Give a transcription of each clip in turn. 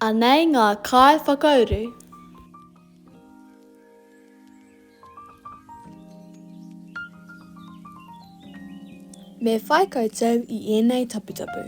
Anei ngā kai whakauru. Me whai koutou i ēnei taputapu.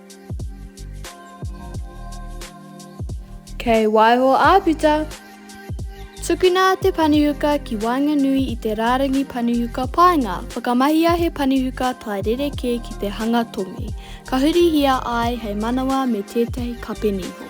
Kei waiho āputa! Tukuna te panihuka ki waenganui i te rārangi panihuka paenga, whakamahia he panihuka tae rerekē ki te hanga tongi, ka hurihia ai hei manawa me tētahi kape niho.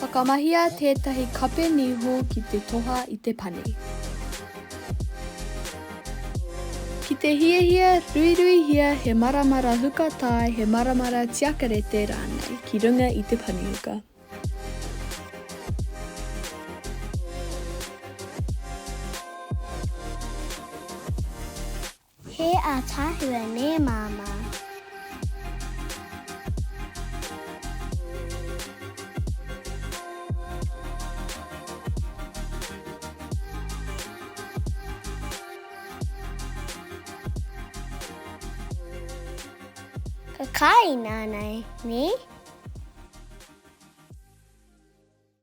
Whakamahia tētahi kape niho ki te toha i te pane. Ki te hiahia, ruiruihia he maramara huka tae he maramara tiakarete rānei ki runga i te panehuka. He ataahua nē Māmā. Ka kāina ana e, nē?